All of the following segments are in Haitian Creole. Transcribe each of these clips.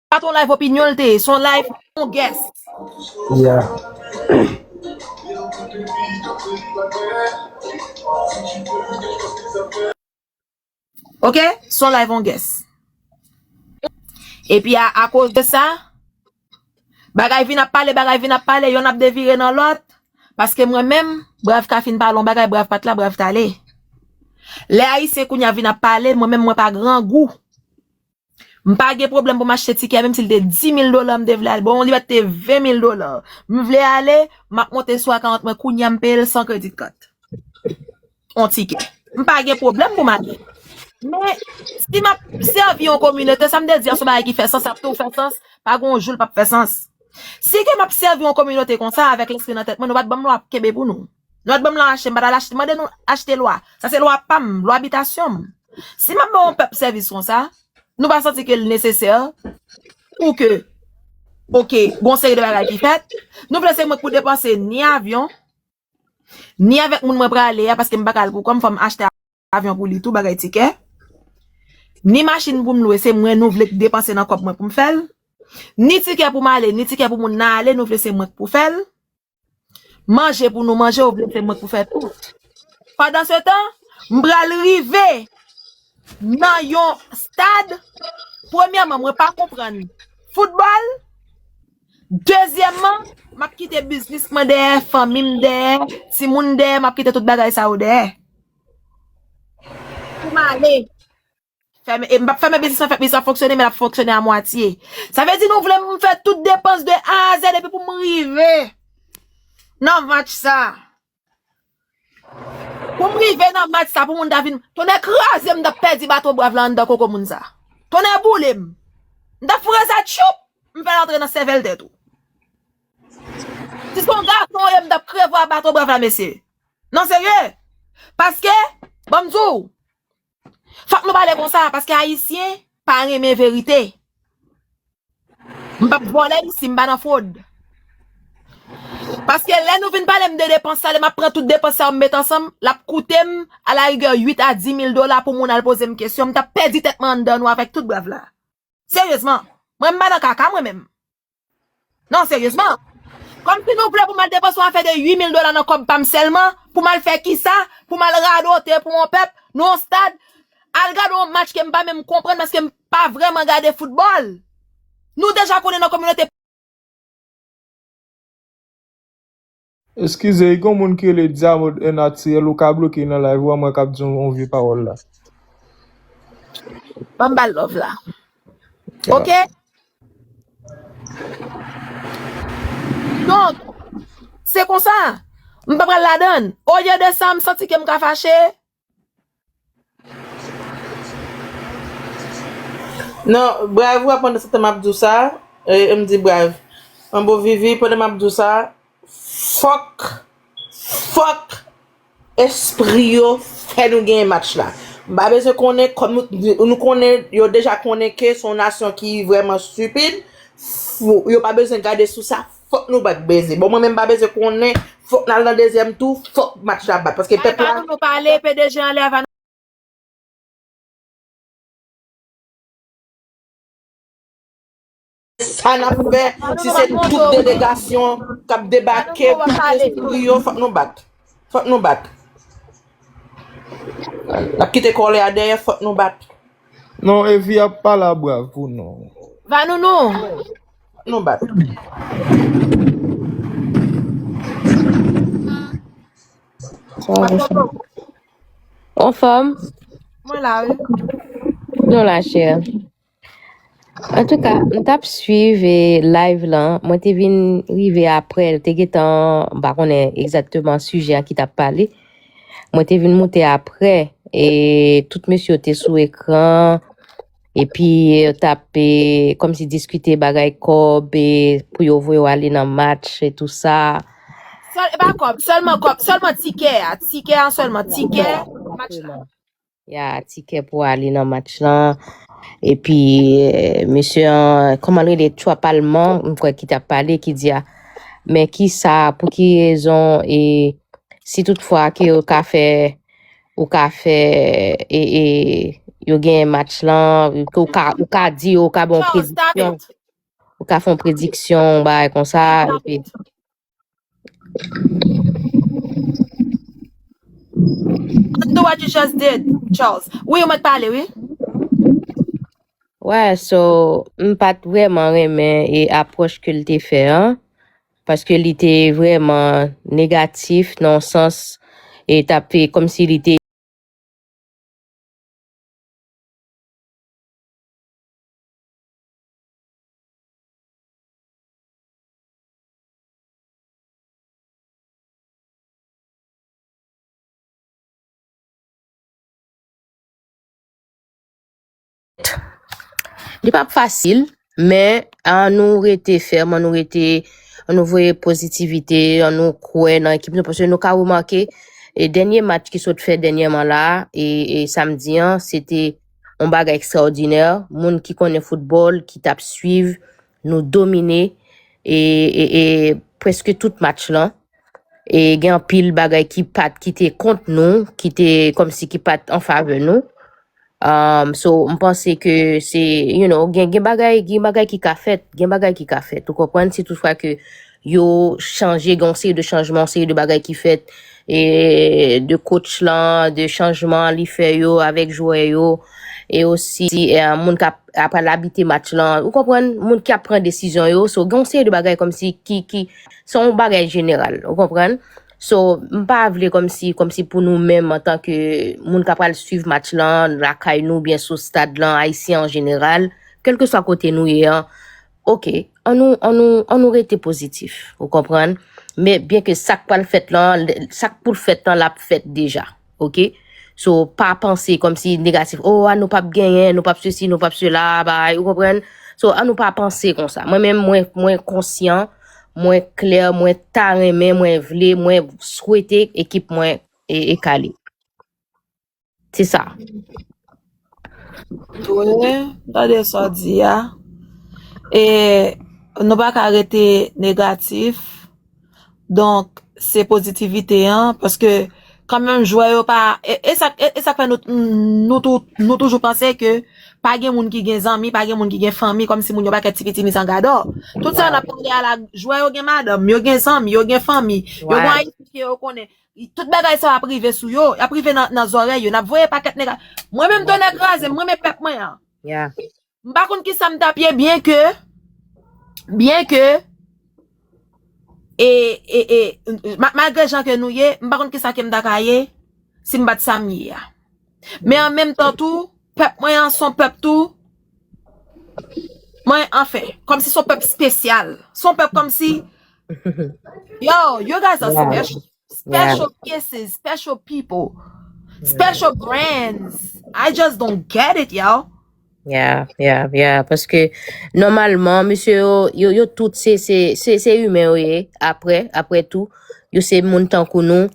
Pat yon live opinyon l te ye, se yon live yon guest. Ok, se yon live yon guest. Epi a akoz de sa. Bagay vin ap pale, bagay vin ap pale, yonn ap devire nan lòt, paske mwen menm, Brav ka fin pale yon bagay, Brav pa t la, Brav t ale. Lè Ayisyen kounye a vin ap pale, mwen menm mwen pa grangou. M pa gen pwoblèm pou m achte tikè a, menm si l te dimil dola m te vle al. Bon, li pa t te venmil dola. M vle ale, m ap monte sou akawont mwen kounye a, m peye l san kreditkart. yon tikè. M pa gen pwoblèm pou m ale. Men, si m ap sèvi yon kominote, sa m te di a se yon bagay ki fè sans, sa ap toujou fè sans, pa gen yon jou l pap fè sans. Si ke m ap sèvi yon kominote konsa, avèk lespri nan tèt mwen, nou pa t ban m lwa pou m kenbe pou nou. Nou pa t ban m lwa achte, m pa t al mande nou achte lwa. Sa se lwa pa m, lwa bitasyon m. Si m ap ban yon pèp sèvis konsa, nou pa santi ke l nesesè pou ke ok, gen yon seri de bagay ki fèt, nou vle se mwen ki pou depanse ni avyon, Ni avèk moun mwen prale a paske m pa ka al pou kò m fò m achte avyon pou li tou bagay tikè. Ni machin pou m lwe se mwen nou vle k depanse nan kòb mwen pou m fè l. Ni tikè pou m ale ni tikè pou moun nan ale nou vle se mwen k pou fè l. Manje pou nou manje ou vle se mwen k pou fè tout. Pandansetan m pral rive nan yon stad premyèman mwen pa konprann foutbòl. Dezyèmman, m ap kite biznis mwen dèyè, fanmi m dèyè, timoun dèyè, m ap kite tout bagay sa yo dèyè pou m ale. M pap fèmen biznis lan, biznis lan ap fonksyone men l ap fonksyone a mwatye. Sa vle di nou vle m fè tout depans de A a zèd epi pou m rive nan vant sa. Pou m rive nan match sa pou moun ta vin Tonnè kraze m m tap pèdi baton brav la anndan koko moun sa Tonnè boule m M tap foure sa tchuup M fè l antre nan sèvèl tèt ou Si se yon gason w ye m tap krevwa baton brav la mesye Non serye Paske Ban m di w Fòk nou pale konsa paske ayisyen pa renmen verite. M pap vòlè isi, m pa nan fwod. Paske lè nou vin pale m de depans sa, lè m ap pran tout depans sa yo m met ansanm, l ap koute m a la rigè 8 a 10 mil dola pou moun al poze m kesyon, m t ap pèdi tèt mwen anndan nou avèk tout brèv la. Seryezman, mwen m pa nan kaka mwen menm. Non seryezman. Kom si nou vle pou mal depanse yon afe de 8000 dola nan kob pam selman, pou mal fe kisa, pou mal radote pou yon pep, nan yon stad, al gade yon match kem pa menm konprann paske m pa vreman gade foutbol. Nou deja konnen nan kominote. Eskize gon moun ki rele diamond un naturel ou ka bloke nan live ou a mwen kap di yon vye pawol la. Banm bal love la ok. Donk se konsa m pa pral ladann olye de sa m santi kem ka fache Non, brave wè pandan se tan map di w sa, e m di brave. An bon Vivi, pandan map di w sa, fòk, fòk espri yo fè nou genyen match la. M pa bezwen konnen, kòm nou konnen, yo deja konnen ke se yon nasyon ki vrèman stupid, yo pa bezwen gade sou sa. Fok nou bat beze. Bon mwen menm pa beze konnen. Fok nal nan dezyem tou. Fok match la bat. Paske pep la. Bay nou pale pdg anlè ava nou. Sa nap fe. Si se tout delegasyon. Kap debake. Fok nou bat. Fok nou bat. Nap kite kole a deye. Fok nou bat. Non evi ap pala brav pou nou. Vanou nou. Nou bat. On fòm? Mwen la ou? Nou la chè. An tou ka, m tap swiv e live lan. Mwen te vin rive apre. Te gen tan, m pa konnen egzatman sijè ki tap pale. Mwen te vin moute apre. E tout mesye te sou ekran. E pi yo tap e, kom si diskite bagay kob e pou yo voye w ale nan match e tou sa. Sèl, e pa kòb, sèlman kòb, sèlman tikè a, tikè a sèlman, Ya, tikè ya, match la. exactement. Ya tikè pou ale nan match lan. E pi eh, mesye an, koman l rele Trump alman, m kwè ki tap pale ki di a, men ki sa, pou ki rezon e si tout fwa ke yo ka fè ou ka fè e, e, yo gen match lan, ou ka, ou ka di yo, ou ka bon Charles, stop prediksyon, it. ou ka fon prediksyon, bay kon sa, Stop epi, it. Undo what you just did, Charles. Oui, ou mèt pale, oui. wè, so, m pat vreman renmen e apwòch ke l te fè an, paske li te vrèman negatif nan yon sans e tap fè kòm si li te Li pa fasil, men an nou rete fèm, an nou rete, an nou voye pozitivite, an nou kwe nan ekip nou, pwese nou ka remake, e denye match ki sot fè denye man la, e, e samdi an, se te, on baga ekstraodinè, moun ki konnen foutbol, ki tap swiv, nou domine, e, e, e, pweske tout match lan, e gen an pil baga ki pat, ki te kont nou, ki te, kom si ki pat an fave nou, Umm so m panse ke se you know gen gen bagay gen bagay ki ka fèt gen bagay ki ka fèt ou konprann si tout fwa ke yo chanje gen yon seri de chanjman yon seri de bagay ki fèt e de coach lan de chanjman li fè yo avèk jwè yo e osi moun kap apral abite match lan ou konprann moun ki ap pran desizyon yo so gen yon seri de bagay kòmsi ki ki se yon bagay jeneral ou konprann So, m pa vle kòmsi, kòmsi pou nou menm antan ke moun ka pral swiv match lan lakay nou oubyen sou stad lan, Ayisyen an jeneral, kèlkeswa kote nou ye an, ok, an nou, an nou, an nou rete pozitif, ou konprann? Men, byenke sa k pral fèt lan, sa k pou l fèt lan l ap fèt deja. ok so pa panse kom si negatif oh a nou pap genyen nou pap se si nou pap se la bay ou konpren so a nou pa panse konsa mwen men mwen mwen konsyan mwen kle mwen ta renmen mwen vle mwen swete ekip mwen e kale se sa. Touyè, tande sa w di a. E nou pa ka rete negatif. Donk, se pozitivite an. Paske, kan menm jwè yo pa... E sa k fè nou toujou panse ke pa gen moun ki gen zanmi, pa gen moun ki gen fanmi, kòm si moun yo pa kè ti pitimi san gadò. Tout sa n ap pale a la, jwè yo gen madanm, yo gen zanmi, yo gen fanmi, yo gen ayiti ke yo konnen. Tout bagay sa ap rive sou yo, ap rive nan zòrèy yo, nap voye pakèt nèg a. Mwen menm tonnè kraze m, mwen renmen pèp mwen an. M pa konn kisa m tap ye byen ke, byen ke, e, e, e, malgre jan ke nou ye, m pa konn kisa kem ta ka ye, si m pat sam ye a. Men an menm tan tou, pèp mwen an son pèp tou. Mwen anfen, kòmsi son pèp spesyal, son pèp kòmsi, yo, you guys are special, special kisses, special people, special brands, I just don't get it yo. Yeah, yeah, yeah, paske nòmalman misye yo, yo, yo tout se, se, se, se imen yo ye, apre, apre tou, yo se moun tankou nou.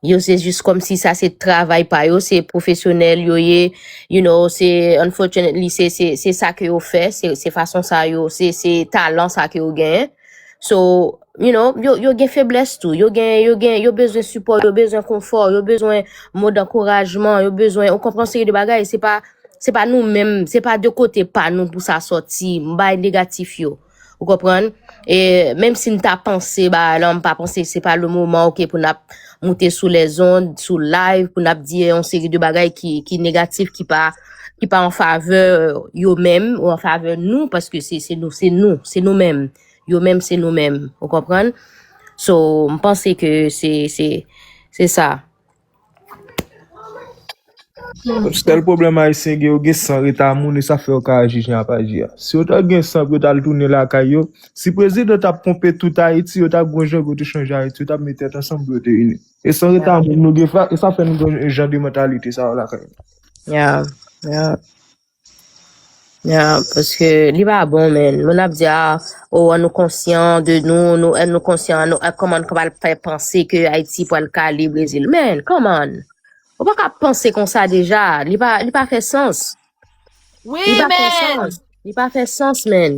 Yo se jis komsi sa se travay pa yo, se pwofesyonèl yo ye, you know, se unfortunately se se se sa ke yo fè, se se fason sa yo, se se talan sa ke yo genyen. So, you know, yo yo gen feblès tou, yo gen yo gen yo bezwen sipò, yo bezwen konfò, yo bezwen mo dankourajman, yo bezwen ou konpran seri de bagay, se pa se pa nou menm, se pa de kote pa nou pou sa soti, m bay negatif yo. Ou konprann? E menm si m ta panse bagay lan, m pa panse se pa le moman ok pou n ap moute sou lèzond, sou live pou n ap di yon seri de bagay ki negatif, ki pa an favè yo menm ou an favè nou paske se nou, se nou, se nou menm. Yo menm se nou menm. Ou konprann? So, m panse ke se sa. Sèl pwoblèm ayisyen gen yo gen san reta moun e sa fè yo ka aji jan y ap aji a. Si yo ta gen san pou yo t al tounen lakay yo, si prezidan t ap ponpe tout Ayiti yo t ap gen yon jan pou yo te chanje Ayiti, yo t ap met tèt ansanm pou yo te ini. E san reta moun nou gen sa fè nou gen jan de mantalite sa yo lakay nou. Ya paske li pa bon men moun ap di a oh an nou konsyan de nou nou an nou konsyan an nou an kòman nou kapab fè panse ke Ayiti pral kale Brezil men kòman ou pa ka panse konsa deja li pa li pa fè sans Wi li pa fè men sans li pa fè sans men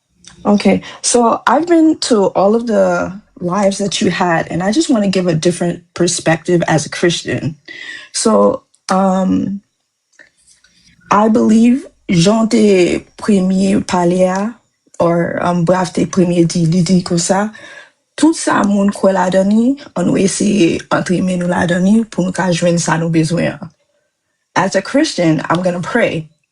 Okay, so I've been to all of the lives that you had, and I just want to give a different perspective as a Christian. So, um, I believe Jean te premye pale a, or um, Brav te premye di, li di kon sa, tout sa moun kwè ladan ni, an nou eseye antre men nou ladan ni pou nou ka jwenn sa nou bezwen an. As a Christian, I'm gonna pray.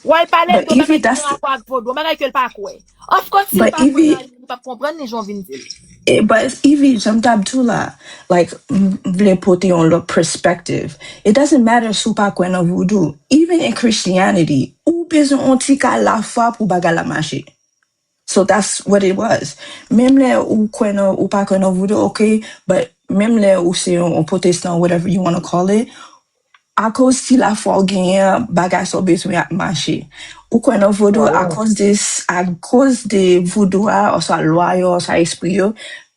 Wè l pale de yon bagay ki gen rapò ak vodou, yon bagay ke l pa kwè. Of course si l pa kwè nan li, li pap konprann ni jan w vin di l. But Yvy, janm tap di w la, like m vle pote yon lòt perspective. It doesn't matter si w pa kwè nan vodou, even in Christianity, ou bezwen yon ti ka lafwa pou bagay la mache. So that's what it was. Menm lè ou kwè nan ou pa kwè nan voodoo ok but menm lè ou se yon protestant whatever you wanna call it akoz ti lafwa ou genyen an bagay sa ou bezwen ap mache. Ou kwè nan voodoo akoz de akoz de voodoo a oswa lwa yo oswa espri yo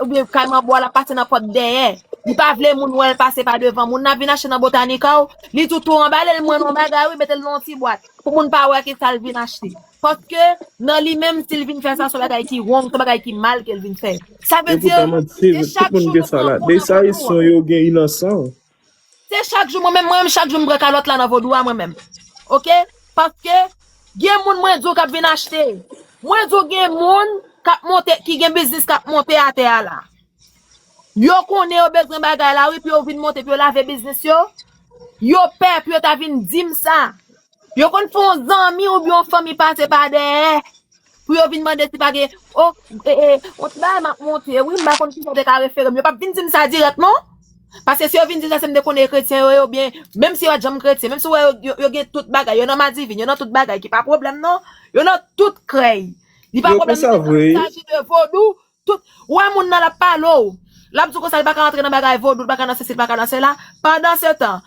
Oubyen kay manbo a lap pase nan pòt dèyè. Li pa vle moun wèl pase pa devan. Moun nan ap vin achte nan Botanica ou, li tou tou anbale l mwen yon bagay wi mete l nan yon ti bwat pou moun pa wè kisa l vin achte. Paske nan li menm si l vin fè sa son bagay ki wrong, son bagay ki mal ke l vin fè. Sa vle Epi di pa manti, gen tout chak moun jou gen yo sa pran la. kou nan Dessalines kont ou an. son yo gen inansan. Se chak jou mwen menm mwen menm chak jou m pran kalòt la nan vodou a mwen menm ok paske gen moun mwen di w kap vin achte mwen di w gen moun kap monte ki gen biznis kap monte atè a la yo konnen yo bezwen bagay la wi pou yo vin monte pou yo lave biznis yo yo pè pou yo ta vin di m sa Yo konn fè yon zanmi oubyen yon fanmi pase pa dèyè pou yo vin mande si pa gen o e e yon ti bagay m ap monte wi m pa konn kisa te ka refere m. Yo p ap vin di m sa dirèk non. Paske si yo vin di sa se m te konnen kretyen yo ye oubyen menm si yo pa t janm kretyen, menm si ou wè yo yo yo gen tout bagay, yo nan madivin, yo nan tout bagay ki pa pwoblèm non. Yo nan tout krèy. Li pa Yo pwoblèm konsa menm vre. lè l vin aji de vodou, Tout, ou wè moun nan lap pale w, lap di w konsa li paka antre nan bagay vodou, li paka nan sesi, li paka nan sela, pandansetan,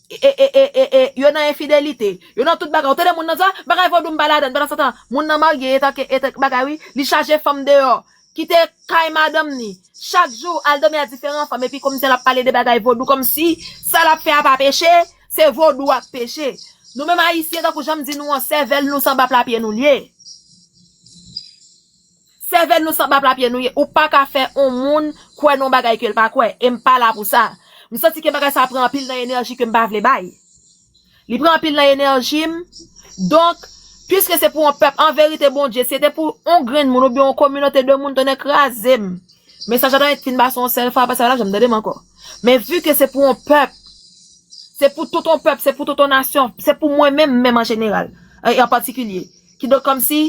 e, yo nan enfidelite, yo nan tout bagay, ou tande moun nan di, ah, bagay vodou m pa ladann, pandansetan, moun nan marye etan ke, etan ke bagay wi, li chaje fanm deyò, kite kay madanm ni, chak jou, al domi a diferan fanm, epi komsi lap pale de bagay vodou, komsi, sa lap fè a pa peche, se vodou a k peche. Nou menm ayisyen, tankou jan m di nou an, sèvèl nou s anba pla pye nou l ye. Sèvèl nou sanblap lapyè nou ye ou paka fè on moun kwè nan on bagay kel pa kwè em pa la pou sa m santi ke bagay sa pran anpil nan enèji kem pa vle bay li pran anpil nan enèjim donk pwiske se pou on pèp anverite Bondye si se te pou on grenn moun oubyen on kominote de moun tonnè krazem mesaj la ta ret fin pase on sèl fwa apre sa yo pa janm tandem ankò men vi ke se pou on pèp se pou tout on pèp se pou tout on nasyon se pou mwen menm menm an jeneral an patikilye Kidonk kòmsi,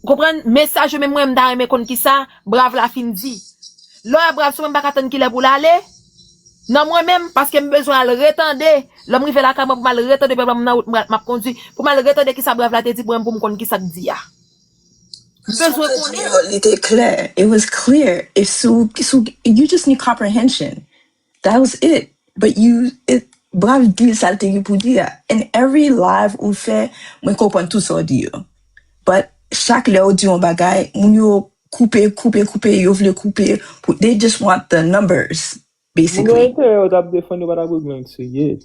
ou konprann, mesaj yo menm mwen m ta renmen konn kisa brav la fin di. Lò a brav si w menm pa ka tann kilè pou l ale, nan mwen menm, paske m bezwen al retande, lè m rive lakay mwen pou m al retande, pèpè m nan wout m pral m ap kondwi, pou m al retande kisa brav la te di pou mwen pou m konn kisa k di a. M bezwen konnen. Li te klè, it was clear, if sou, sou, you just need comprehension. That was it. But you, it, brav di sa l te gen pou di a. And every live ou fè, mwen konprann tout sa w di yo. But chak lè ou di yon bagay, moun yo koupe, koupe, koupe, yo vle koupe pou, they just want the numbers, Moun gen basically. enterè yo tap defann yo pa tap regle ank serye.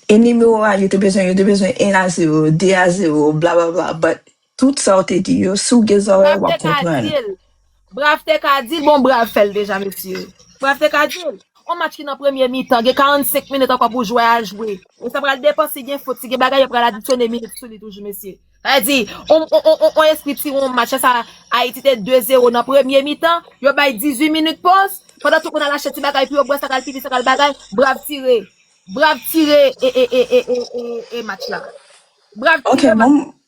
E nimewo a yo te bezwen, yo te bezwen 1 a 0, 2 a 0, bla bla bla, but Tout sa w te di yo, si w gen zòrèy w ap konprann. Brav te ka di l, bon Brav fè l deja mesye. Brav te ka di l. On match ki nan premye mitan, gen 45 minit ankò pou jwè a jwe. E sa pral depan si gen fot, si gen bagay yo pral adisyone minit sou li toujou mesye. Sa vle di, on espri ti on match la sa Ayiti te 2 zero nan premye mitan, yo bay 18 minit pòz, pandan tout moun al achte ti bagay pou yo bwè, sa kal pipi, sa kal bagay, Brav tire. Brav tire e match la. Brav tire match la. Ok,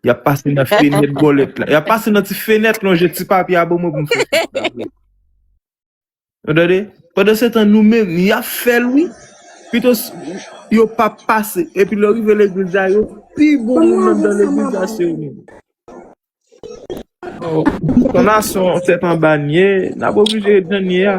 Y ap pase nan fenèt bòlèt la. Y ap pase nan ti fenèt lonje ti papye a ban mwen pou m fè fèt la vre. Ou tande? Pandan se tan nou menm y ap fè l wi. Pito yo pa pase. Epi lè w rive legliz la yo pi bon moun anndan legliz la se yo menm. Ton Nason tèt anba n ye. N ap oblije ret jan n ye a.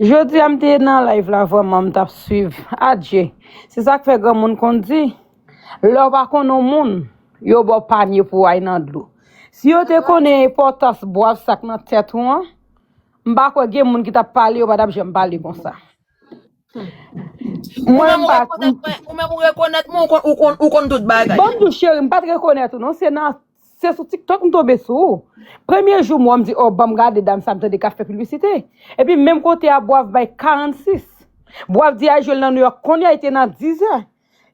Jodia m te nan live la vreman m tap swiv adje se sak fè granmoun konn di lèw pa konn yon moun yo baw panye pou ay nan dlo si yo te konnen enpòtans bwav sak nan tèt ou an m pa kwè gen moun ki tap pale yo pa tap janm pale konsa mwen m pa ou menm ou rekonèt mwen ou konn tout bagay. Banm diw cherim m pat rekonèt ou non se nan Se sou tiktok m tonbe sou ou. Premye jou m wè w m di oh banm gade dam sa m tande kap fè piblisite. Epi menm kote a bwav bay 46. Bwav di a jwe l nan New York kounye a li te nan 10 zè.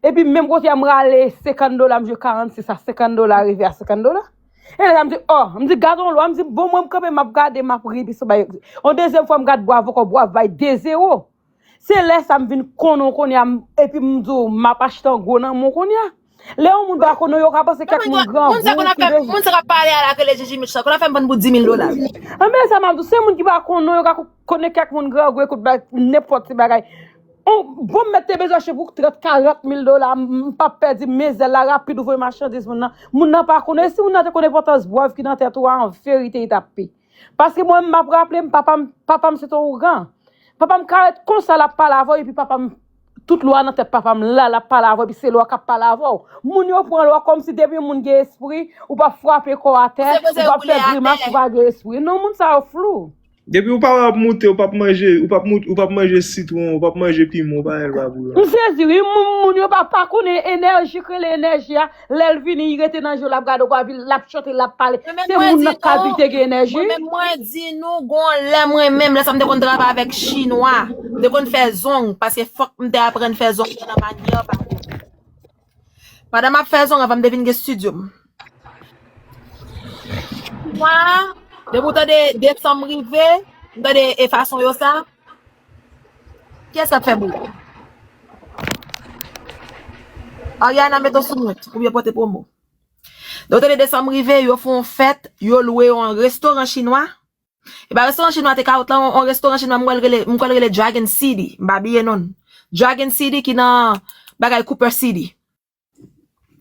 Epi menm kote a m rale 50 dola m jwe 46 a 50 dola rive a 50 dola. E lè sa m di oh m di gad on lwa m di bon mwen m kanpe map gade map ri epi sou bay. On dezyèm fwa m gad bwav ankò bwav bay 2 zewo. Se lè sa m vin konnen w kounye a m epi m di w m ap achte an gwo nan men w kounye a. Lè yon moun pa konnen w yo ka panse kèk moun Moun sa grangou konn ap ki fè, deja moun sa k ap pale a la ak rele Jiji Mitch la konn ap fè m bann bout dimil dola. Anben sa m ap di w, se moun ki pa konnen w yo ka konnen kèk moun grangou ekout ba nenpòt ti bagay. On bon m mèt te bezwen achte pou trant karant mil dola m m pa p pèdi mizè la rapid ou voye machandiz moun nan. Moun nan pa konnen e si moun nan te konnen enpòtans bwèv ki nan tèt ou a anverite li t ap pi. Paske mwen map raplem papam papam se ton ougan. Papam ka ret konsa lap pale avèw epi papam tout lwa nan tèt papam la lap pale avèw epi se lwa kap pale avèw. Moun yo pran lwa kòmsi depi yon moun gen espri ou pap frape kò atè, Koze ou koze yo pap fè koule atè. grimas ou pa gen espri. Non moun sa yo flou. Depiw pa wè ap moute ou pap manje ou pap moute ou pap manje sitwon ou pap manje pimon ou pa wè l pa pou yon. M sezi wi, moun yo pa pa konnen enèji k rele enèji a. Lèl vini li rete nan jel lap gade w anvi lap chante lap pale Mwen menm se mwen moun di lap nou, kalbite gen enèji. mwen menm mwen di nou gon lè mwen menm lè sa m te konn travay avèk chinwa, m te konn fè zong paske fòk m te aprann fè zong mwen nan manyè pa yo. Pandan map fè zong avan m te vin gen studio m. Chinwa, depi w tande desanm rive, m tande e fason yo sa, Kiyes kap fè bri? Ariana met ou sou mute pou yo pote promo. Yo tande desanm rive, yo fè yon fèt, yo lwe yon restoran chinwa. E ba restoran chinwa te kawot la, yon restoran chinwa m kwè l rele, m kwè l rele Dragon City, m pa bliye non l. Dragon City ki nan bagay Cooper City.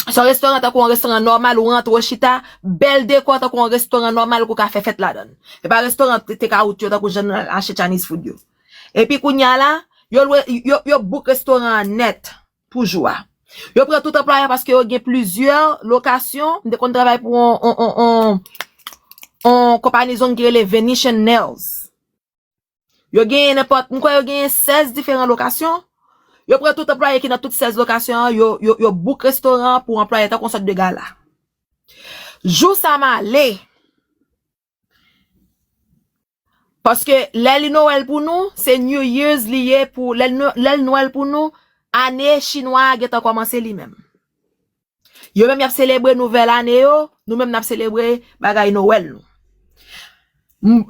Son restoran tankou yon restoran nòmal ou rantre ou chita, bèl dekò tankou yon restoran nòmal ke w ka fè fèt ladan l. Se pa restoran take out yo tankou jan nou al achte Chinese food yo. Epi kounye a la, yo lwe, yo bouk restoran an nèt pou jou a. Yo pran tout anplwayè paske yo gen plizyè lokasyon, m te konn travay pou yon yon yon yon yon konpani zong ki rele Venetian Nails. Yo genyen nenpòt, m kwè yo genyen 16 diferan lokasyon. Yo pran tout anplwaye ki nan tout 16 lokasyon an, yo bouk restoran an pou anplwaye tankou yon sòt de gala. Jou sa m ale, paske lè li Nowèl pou nou, se New Year's li ye pou, lè l Nwèl pou nou, ane chinwa a gentan kòmanse li menm. Yo menm yap selebre nouvèl ane yo, nou menm nap selebre bagay nowèl nou.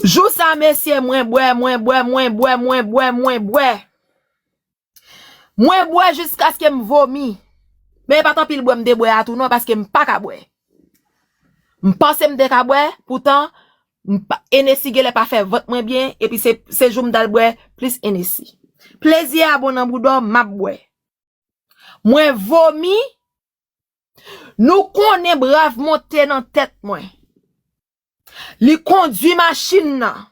Jou sa mesye mwen bwè, mwen bwè, mwen bwè, mwen bwè, mwen bwè. Mwen bwè jiskaske m vomi. Men e pat anpil bwè m te bwè a tou non paske m paka bwè. M panse m te ka bwè, poutan Hennessy genlè pa fè vant mwen byen epi se jou m t al bwè plis Hennessy. Plezi a bon nan boudò, map bwè. Mwen vomi, nou konnen brav monte nan tèt mwen. Li kondwi machin nan,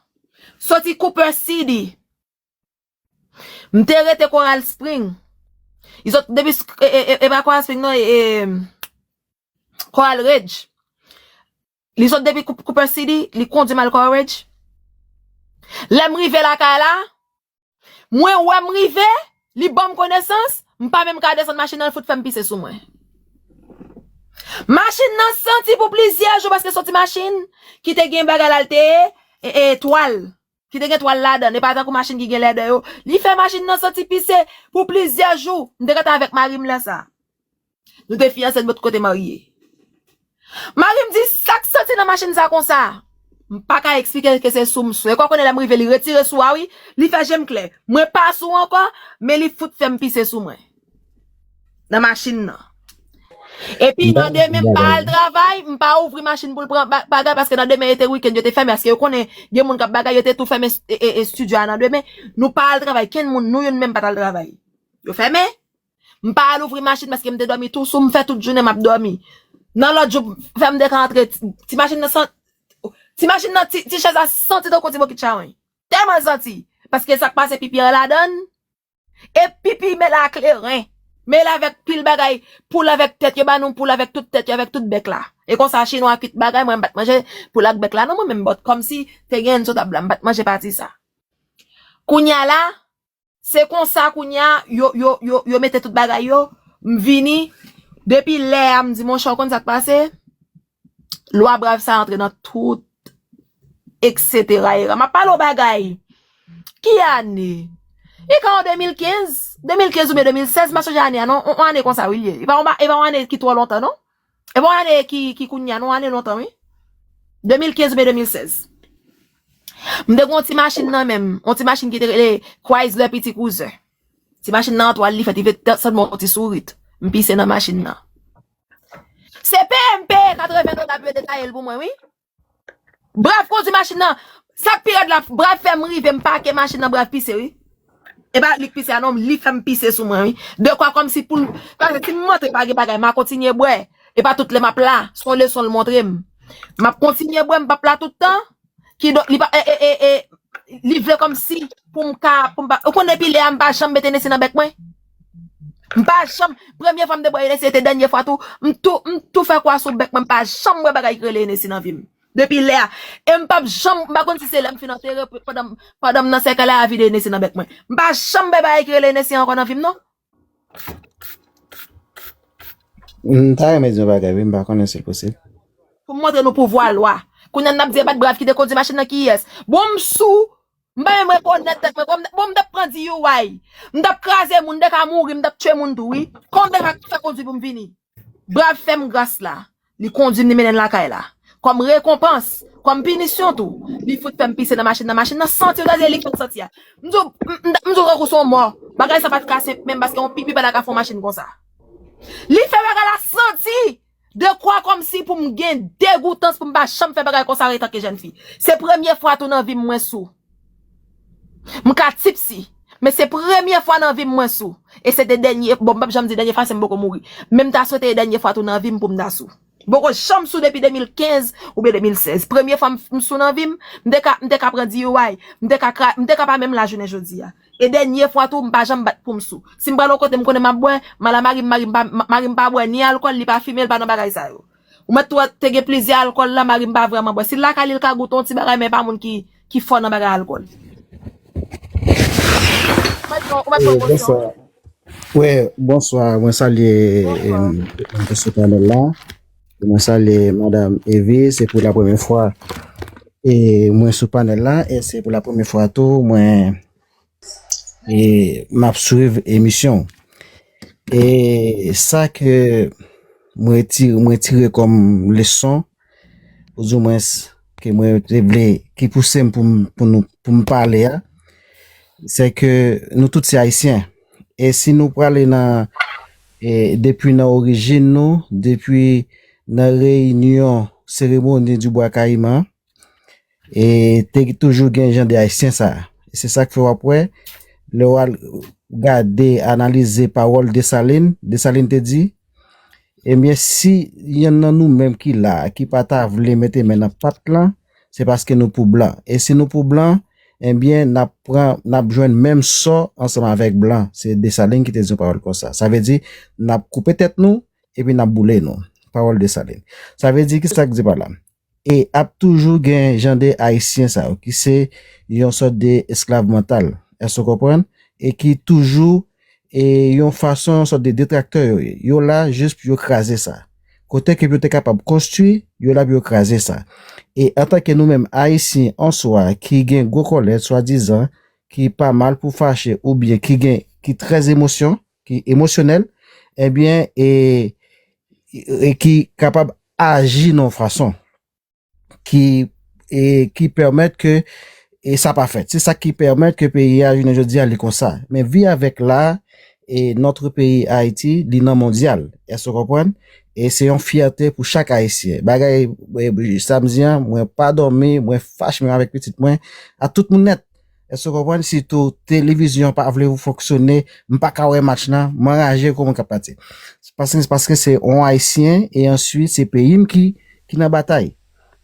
soti Cooper City. M te rete Coral Spring. E pa Coral Spring non, e Coral Ridge. Li sot depi Cooper City, li kondi m al Courage. Lè m rive lakay la, mwen wè m rive, li ban m konesans, m pa menm ka desann machin nan, l fout fè m pise sou mwen. Machin nan santi pou plizyè jou paske soti machin ki te gen bagay la l te e twal. ki te gen twal ladan l e pa tankou machin ki gen lèdè yo li fè machin nan santi pise pou plizyè jou m te rete avèk mari m lè sa nou te fiyanse n pot ko te marye mari m di sa k santi nan machin sa konsa m pa ka eksplike l ke se sou m sou e kò w konnen lè m rive li retire sou a wi li fè je m klè mwen pa sou ankò men li fout fè m pise sou mwen. nan machin nan. Epi nan demen m pa al travay, m pa ouvri machin pou l pran bagay paske nan demen yo te weekend yo te fèmen aske yo konnen gen moun k ap bagay yo te tou fèmen studio a nan demen. Nou pa al travay, kenn moun nou youn menm pa t al travay. Yo fèmen. M pa al ouvri machin paske m te dòmi tou sou, m fè tout jounen m ap dòmi. Nan lòt jou fè m te ka antre ti machin nan san ti machin nan ti chèz la santi tankou ti bokit chawony. Tèlman l santi paske sa k pase pipi an ladan l. E pipi mele a kleren. Mele avèk pil bagay poul avèk tèt yo ba nou poul avèk tout tèt yo avèk tout bèk la. E konsa chinwa kuit bagay mwen m pat manje poul ak bèk la non mwen menm but kòmsi te gen sou tab la m pat manje pati sa. Kounya la se konsa kounya yo yo yo yo mete tout bagay yo m vini depi lè a m di monchè ou konn sak pase. Lwa brav sa antre nan tout eksetera era. Map pale yon bagay. Ki ane? Li ka an 2015, 2015 oubyen 2016, m pa sonje ane a non. Yon ane konsa wi li ye. E pa yon ane ki twò lontan non. E pa yon ane ki kounye a non. Yon ane lontan wi. 2015 oubyen 2016. M te gen yon ti machin nan men m. Yon ti machin ki te rele Chrysler Petit Cruiser. Ti machin nan antwal li fèt. Li fèt sèlman yon ti sourit. M pise nan machin nan. Se PMP 80 nou tap yo detayel pou mwen wi. Brav kondwi machin nan. Sak pi rèd la brav fèm rive m pake machin nan brav pise wi. E pa lik pise a non li fèm pise sou mwen wi. De kwa kòmsi poul pase si m montre pa gen bagay ma kontinye bwè. E pa tout lè map la son leson l montre m. Map kontinye bwè m pap la tout tan. Ki donk li pa e e e li vle kòmsi pou m ka pou m pa ou konn depi lè a m pa janm met Hennessy nan bèk mwen? M pa janm premye fwa m te bwè Hennessy e te dènye fwa tou m tou m tou fè kwa sou bèk mwen m pa janm bwè bagay ki rele Hennessy nan vi m depi lè a e m pap janm m pa konn si se lè m fin antere pandan m pandan m nan sèkèy la a vide Hennessy nan bèk mwen m pa janm bwè bagay ki rele Hennessy ankò nan vi m non M ta renmen di yon bagay wi m pa konnen si l posib. Pou m montre nou pouvwa lwa. Kounye a n ap di e bat brav ki te kondi machin nan kiyès. Bon m sou, m pa menm rekonèt tèt mwen. Bon m t ap pran DUI. M t ap kraze moun, m te ka mouri, m t ap tchwe moun tou wi. Konbyen lwa ki fè kondwi pou m vini? Brav fè m gras la, li kondui m li mennen m lakay la. Kòm rekonpans, kòm pinisyon tou, li fout fè m pise nan machin nan. Machin nan santi w ta di li fè w santi a. M di w, m ta di w tankou se yon mò. Bagay sa pa t ka senp menm paske yon pipi pa ta ka fè yon machin konsa. Li fè bagay la santi! Dekwa kòmsi pou m gen degoutans pou m pa janm fè bagay konsa etanke jèn fi. Se premye fwa tou nan vi m mwen sou. M ka tipsy, men se premye fwa nan vi m mwen sou. E se te dènye, bon m pap janm di dènye fwa se m poko mouri. Men m ta swete e dènye fwa tou nan vi m pou m ta sou. M poko janm sou depi 2015 oubyen 2016. Premye fwa m sou nan vi m, m te ka, m te ka pran DUI, m te ka kra, m te ka pa menm la jounen jodi a. E dènye fwa tou m pa janm bat pou m sou. Si m pral yon kote m konnen m ap bwè, m al a mari m, mari m pa, mari m pa bwè ni alkòl, li pa fime, li pa nan bagay sa yo. Ou mèt tou wè te gen plizyè alkòl la marim pa vrèman bwè. Si l lakay li l ka goute yon ti bagay men pa moun ki fò nan bagay alkòl. Ou mèt pran bosyon. Wi bonswa mwen salye Mesye Pamèl la mwen salye Madam Evi se pou la premye fwa e mwen sou panèl la e se pou la premye fwa tou mwen E map swiv emisyon. E sa ke mwen ti mwen tire kom leson ou di mwen ke mwen te vle ki pousem pou pou nou pou m pale a se ke nou tout se ayisyen e si nou prale nan e depi nan orijin nou depi nan reyinyon seremoni di bwa kayiman E te toujou gen jan de ayisyen sa. Se sak fè wap wè, lè wal gade, analize pawòl Desalin, Desalin te di, ebyen si yonn nan nou menm ki la, ki pa ta vle mete men nan pat lan, se paske nou pou blan. E si nou pou blan, ebyen nap pran, nap jwenn menm sò ansanm avèk blan. Se Desalin ki te di yon pawòl konsa. Sa vle di, nap koupe tèt nou, epi nap boule nou. Pawòl Desalin. Sa vle di, kisa k di pa la? E ap toujou gen jan de Ayisyen sa yo ki se yon sòt de esklav mantal, èske ou konprann, e ki toujou e yon fason yon sòt de detraktè yo ye. Yo la jis pou yo kraze sa. Kote ke pou yo te kapab konstwi, yo la pou yo kraze sa. E antanke nou menm Ayisyen an swa ki gen gwo kòlè swadizan, ki pa mal pou fache oubyen ki gen ki trè emosyon, ki emosyonèl, ebyen e e ki kapab aji nan yon fason ki e ki pèmèt ke e sa pa fèt. Se sa ki pèmèt ke peyi a jounen jodi a li konsa. Men vi avèk la e notre peyi Ayiti li nan mondyal. Èske w konprann? E se yon fyète pou chak Ayisyen. Bagay e sa m di an, mwen pa dòmi, mwen fache menm avèk pitit mwen, ak tout moun nèt. Èske ou konprann si tou televizyon pa vle ou fonksyone, m pa ka wè match nan, m anraje kou mwen ka pati. Paske se paske se yon ayisyen e answit se peyi m ki ki nan batay.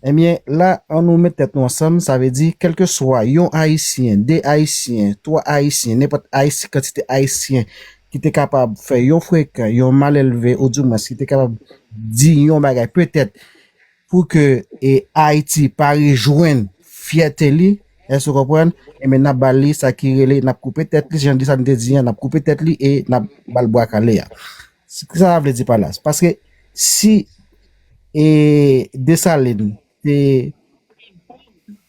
Ebyen la an nou met tèt nou ansanm sa vle di kelke swa yon ayisyen, 2 ayisyen, 3 ayisyen, nenpòt ayisyen kantite ayisyen ki te kapab fè yon frekan, yon malelve ou di mwens ki te kapab di yon bagay petèt Pou ke Ayiti pa rejwenn fyète li, èske ou konprann, enben n ap ba li sa ki rele, n ap koupe tèt li, jan di sa nou te di an, n ap koupe tèt li e n ap ba l bwa kale a. Ki sa sa vle di pa la? Se paske si Desalin te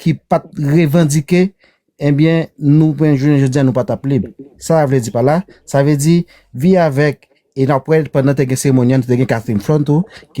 ki pat revandike ebyen nou mwen jounen jodi a nou patap lib sa vle di pa la sa vle di vi avèk e nan pwèl pandan te gen seremoni an te gen Catherine Flon tou ki